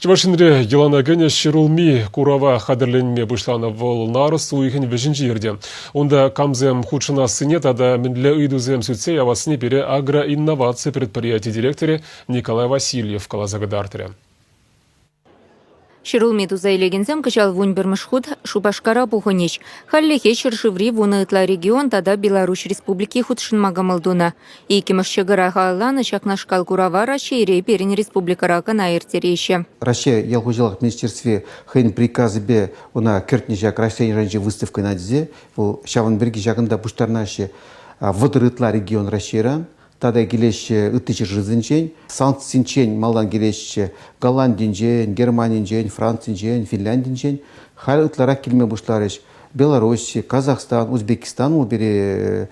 Чӑваш Енре йӑлана кӗнӗ ҫӗрулми курава хатӗрленме пуҫланӑ вӑл нарӑс уйӑхӗн вӗҫӗнче иртӗ. Унта камсем хутшӑнассине тата мӗнле ыйтусем сӳтсе явассине пире агроинноваци предприяти директорӗ Николай Васильев каласа кӑтартрӗ. Ҫӗрулми туса илекенсем кӑҫал вун пӗрмӗш хут Шупашкара пухӑнӗҫ. Хальлӗхе ҫӗршыври вунӑ ытла регион тата Беларуҫ Республики хутшӑнма кӑмӑл тунӑ. Иккӗмӗш ҫӑкӑра халалланӑ ҫакнашкал курава Раҫҫейре пирӗн республикӑра кӑна ирттереҫҫӗ. Раҫҫей ял хуҫалӑх министерстви хӑйӗн приказӗпе ӑна кӗртнӗ ҫак Раҫҫей шайӗнчи выставкӑна тесе вӑл ҫавӑн пирки ҫакӑнта пуҫтарнаҫҫӗ. Вӑтӑр ытла регион Раҫҫейран тата килеҫҫӗ ытти ҫӗршывсенчен, санкцисенчен малтан килеҫҫӗ Голландинчен, Германинчен, Францинчен, Финляндинчен, халь ытларах килме пуҫларӗҫ. Белорусси, Казахстан, Узбекистан вӑл пире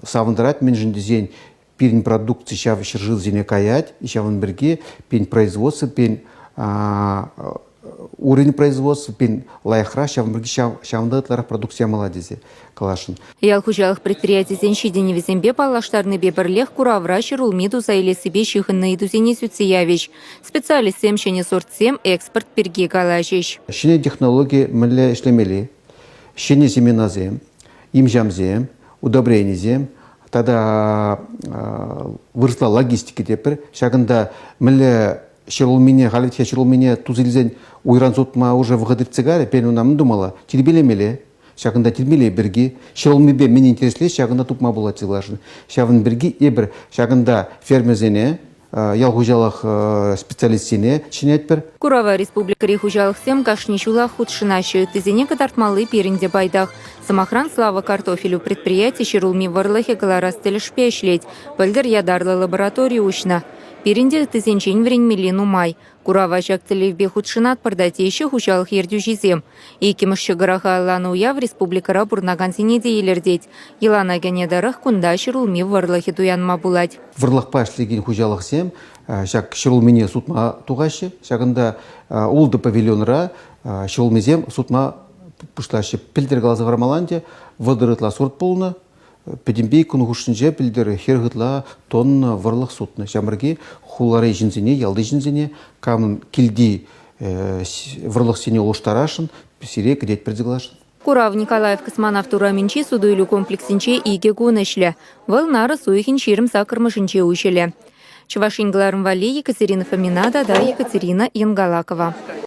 савӑнтарать, мӗншӗн тесен пирӗн продукци ҫав ҫӗршывсене каять, ҫавӑн пирки пин производство, пин уровень производства пин лайӑхрах, ҫавӑн пирки ҫавӑнта ытларах продукци ямалла тесе каласшӑн. Ял хуҫалӑх предприятисен ҫитӗнӗвӗсемпе паллаштарнипе пӗрлех куравра ҫӗр улми туса илессипе ҫыхӑннӑ ыйтусене сӳтсе явӗҫ. Специалистсем ҫӗнӗ сортсем экспорт пирки калаҫӗҫ. Ҫӗнӗ технологи мӗнле ӗҫлемелли, ҫӗнӗ семенасем, имҫамсем, удобренисем тата вырӑсла логистика тепӗр. Ҫакӑнта мӗнле ҫӗр улмине, халӗ ҫӗр улмине тус илсен уйран сутма уже вӑхӑт иртсе карӗ. Пен ӑна мӗн тумалла? Тирпейлемелле. Ҫакӑнта тирпейлей пирки, ҫӑлӑннипе мӗн интереслет, ҫакӑнта тупма пулать сывлашӑн. Ҫавӑн пирки эпир ҫакӑнта фермерсене, ял хуҫалӑх специалистсене чӗнетпӗр. Курава республикӑри хуҫалӑхсем кашни ҫулах хутшӑнаҫҫӗ. Ыттисене кӑтартмалли пирӗн те пайтах. Сӑмахран, Слава картофелю предприяти ҫӗрулми вӑрлӑхӗ кӑларас тӗлӗшпе ӗҫлет. Пӗлтӗр ятарлӑ лаборатори уҫнӑ. Пирӗн те ыттисенчен вӗренмелли нумай. Курава ҫак тӗллевпе хутшӑнатпӑр та, теҫҫӗ хуҫалӑх ертӳҫисем. Иккӗмӗш ҫӑкӑраха алланӑ уяв республикӑра пурӑнакансене те илӗртет. Йӑлана кӗнӗ тӑрӑх кунта ҫӗрулми вӑрлӑхӗ туянма пулать. Вӑрлӑхпа ӗҫлекен хуҫалӑхсем ҫак ҫӗрулмине сутма тухаҫҫӗ. Ҫакӑнта ултӑ павильонра ҫӗрулмисем сутма пуҫлаҫҫӗ. Пӗлтӗр каласа хӑрамалла ӗнтӗ, вӑтӑр ытла сорт пулнӑ, Пӗтӗмпе кун хушшинче пӗлтӗр хӗр ытла тонна вӑрлӑх сутнӑ. Ҫамрӑки хулари ҫынсене, ялти ҫынсене камӑн килти вӑрлӑхсене улӑштарасшӑн, сире кӗтет персе кӑларасшӑн. Курав Николаев Космонавт урамӗнчи суту-илӳ комплексӗнче икӗ кун ӗҫлӗ. Вӑл нарӑс уйӑхӗн ҫирӗм саккӑрмӗшӗнче уҫӑлӗ. Чӑваш Ен кӑларӑм валли Екатерина Фомина тата Екатерина Янгалакова.